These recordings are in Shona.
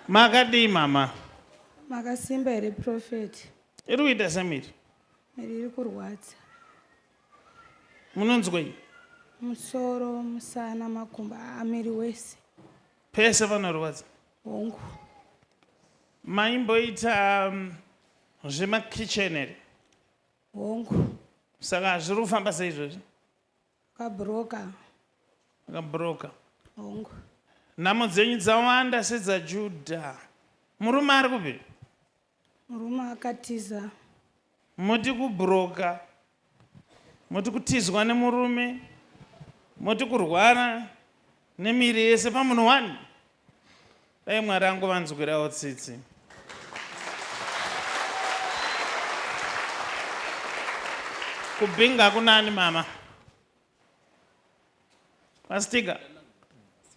Makadii mama? Makasimba here prophet? Iri kuita semiri? Miri iri kurwadza. Munonzwei? Musoro, musana, makumbo, ah, miri wese. Pese panorwadza? Hongu. Maimboita um, zvemakitchen here? Hongu. Saka zviri kufamba seizvozvi? Ukabroka. Ukabroka. Hongu. Nhamo dzenyu dzawanda sedzaJudha. Murume ari kupi? Murume akatiza. Moti kubroka. Moti kutizwa nemurume. Moti kurwara nemiri yese pamunhu wani? Dai Mwari angovanzwirawo tsitsi. Kubhinga kunani mama? Pastika,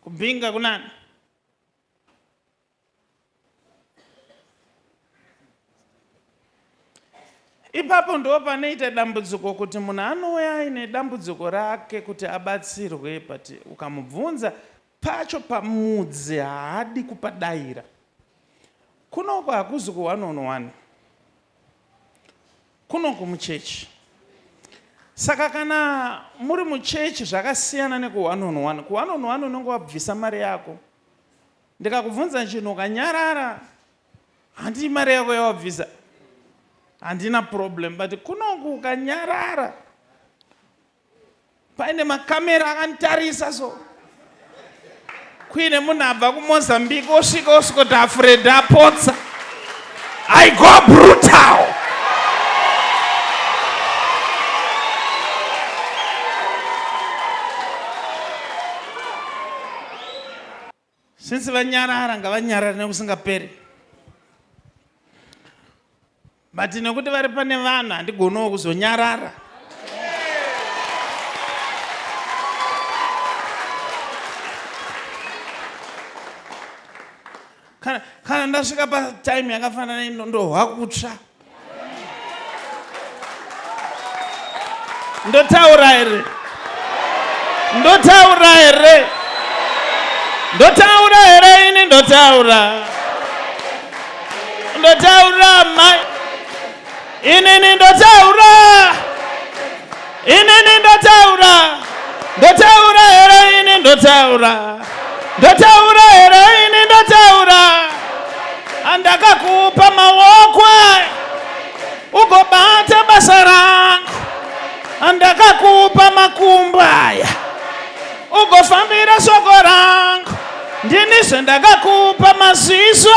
kubhinga kunani? ipapo ndo panoita dambudziko kuti munhu anouya aine dambudziko rake kuti abatsirwe but ukamubvunza Pacho pamudzi haadi kupadaira. Kunoku hakuzi ku one on one. Kunoku muchechi. Saka kana muri muchechi zvakasiyana neku one on one. Ku one on one unenge wabvisa mari yako. Ndikakubvunza chinhu ukanyarara handii mari yako yawabvisa. Handina problem but kunoku ukanyarara paine makamera akanditarisa so kuine munhu abva kumozambique osvika osvikoti afuredi apotsa i go brutal Since vanyarara ngavanyarare nekusingaperi. But nekuti vari pane vanhu handigonowo kuzonyarara. Kana ndasvika patime yakafanana ino ndohwa kutsva. ndotaura here ndotaura here ndotaura here ini ndotaura ndotaura mai inini ndotaura Inini ndotaura, ndotaura here ini ndotaura, ndotaura here ini ndotaura. Andakakupa maoko ugobata basa rangu, andakakupa makumbo aya ugofambira soko rangu. Ndini zvendakakupa maziso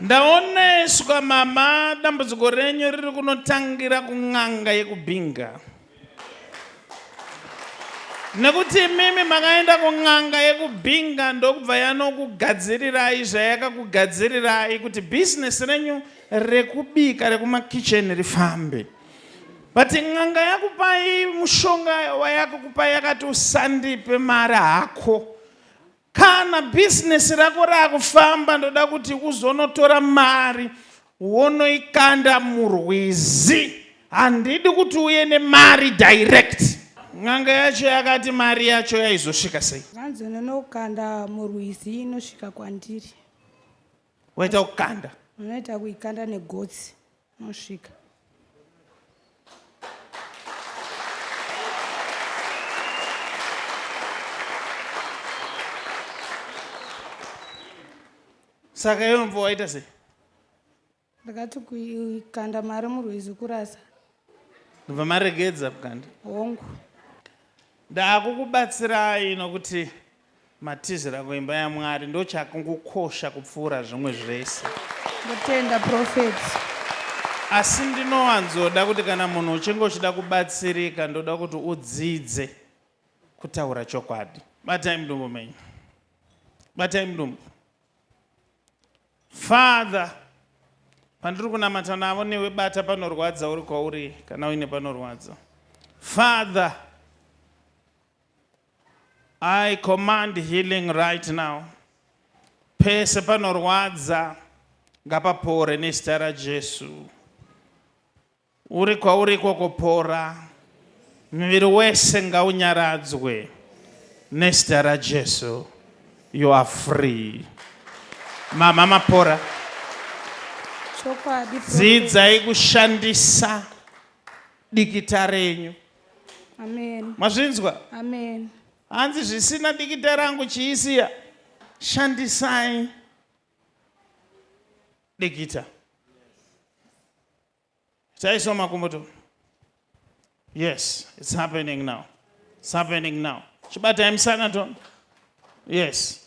ndaoneswa mama dambudziko renyu riri kunotangira kun'anga yekubhinga nekuti imimi makaenda kun'anga yekubhinga ndokubva yanokugadzirirai zvayakakugadzirirai kuti bhizinesi renyu rekubika rekumakicheni rifambe but n'anga yakupai mushonga wayakukupai yakati usandipe mari hako kana bhizinesi rako raakufamba ndoda kuti uzonotora mari wonoikanda murwizi handidi kuti uye nemari direct n'anga yacho yakati mari yacho yaizosvika sei hanzi unonokanda murwizi inosvika kwandiri waita kukanda unoita kuikanda negotsi Mosvika. saka iwe mvo waita sei ndakati kukanda mari murwizi kurasa ndobva maregedza kukanda hongu ndaakukubatsirai nokuti Matizira kuimba yaMwari ndochakukosha kupfuura zvimwe zvese. Ndotenda prophet. Asi ndinowanzoda kuti kana munhu uchinge uchida kubatsirika ndoda kuti udzidze kutaura chokwadi. Batai mudumbu menyu. Batai mudumbu. Father, pandiri kunamata navo newe bata panorwadza uri kwauri kana uine panorwadza. Father, I command healing right now. Pese panorwadza ngapapore nezita raJesu. Uri kwauri ikoko pora. Muviri wese ngaunyaradzwe nezita raJesu. You are free. Mama mapora. Chokwadi. Dzidzai kushandisa dikita renyu. Amen. mazvinzwa Amen. hanzi zvisina dikita rangu chiisiya shandisai dikita taiswa makumbo to yes it's happening now it's happening now chibatai musana to yes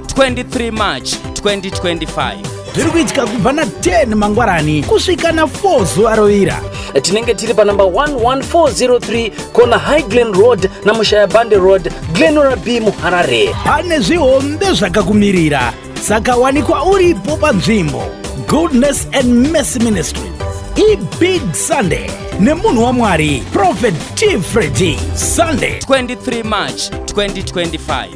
23 March 2025 zviri kuitika kubva na 10 mangwarani kusvika na 4 zuva rovira tinenge tiri panumber 11403 kona high glen road namushaya bande road glenora b muharare pane zvihombe zvakakumirira saka wanikwa uripo panzvimbo goodness and mercy ministry ibig sunday nemunhu wamwari prophet t fredi sunday 23 march 2025